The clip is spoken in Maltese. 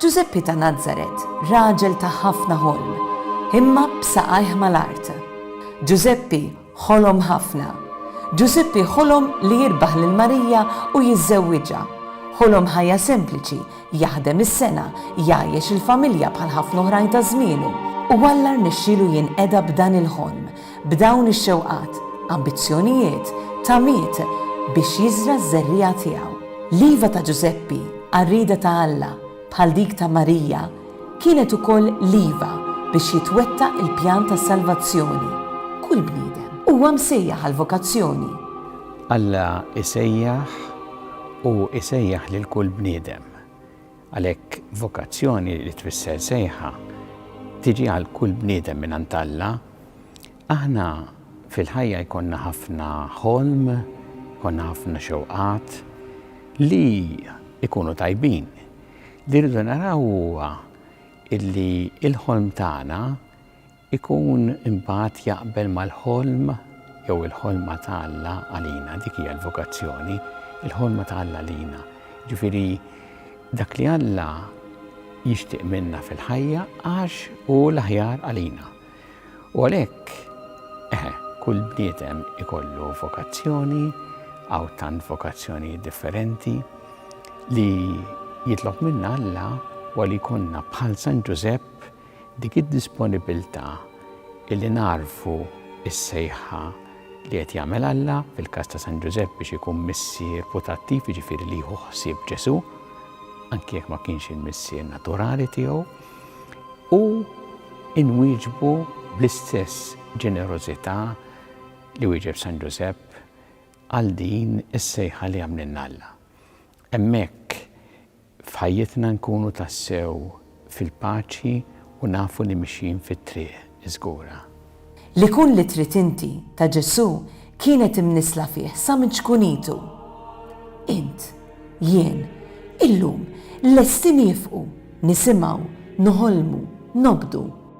Ġużeppi ta' Nazaret, raġel ta' ħafna ħolm, imma b'saqajh mal-art. Ġużeppi ħolom ħafna. Ġużeppi ħolom li jirbaħ lil Marija u jiżżewwiġha. Ħolom ħajja sempliċi Jaħdem is-sengħa, jgħajjex il-familja bħal ħafna oħrajn ta' żmienu. U Alla rnexxielu jinqeda b'dan il-ħolm, b'dawn ix-xewqat, ambizzjonijiet, tamiet, biex jiżra' ż-żerriegħa tiegħu. L-iva ta' Ġużeppi għar-rieda ta' Alla, bħal dik ta' Marija, kienet ukoll l-iva biex jitwettaq il-pjan tas-salvazzjoni. Kull bniedem. Huwa msejjaħ għall-vokazzjoni. Alla jsejjaħ u jsejjaħ lil kull bniedem. Għalhekk vokazzjoni li tfisser sejħa tiġi għal kull bniedem mingħand Alla. Aħna fil-ħajja jkollna ħafna ħolm, jkollna ħafna xewqat li jkunu tajbin. Li rridu naraw huwa illi l-ħolm tagħna Ikun imbagħad jaqbel mal-ħolm jew il-ħolma ta' Alla għalina, dik hija l-vokazzjoni, il-ħolma ta' Alla għalina. Jiġifieri dak li Alla jixtieq minna fil-ħajja għax hu l-aħjar għalina. U għalhekk, eħe, kull bniedem ikollu vokazzjoni, għaw tant vokazzjoni differenti li jitlob minna Alla u li konna bħal San Ġużepp Dik id-disponibilità illi nagħrfu s-sejħa li qed jagħmel Alla, fil-każ ta' San Ġużepp biex ikun missier putattiv, jiġifieri li jieħu ħsieb Ġesù, anki jekk ma kienx il-missier naturali tiegħu, u inwieġbu bl-istess ġenerożità li wieġeb San Ġużepp għal din is-sejħa li għamlilna Alla. Hemmhekk F'ħajjitna nkunu tassew fil-paċi u nafu li mixjin fit-triq iżgura. Li kun li trid inti ta' Ġesù kienet imnissla fih sa minn ċkunitu. Int, jien, illum lesti niefqu, nisimgħu, noħolmu, nobdu.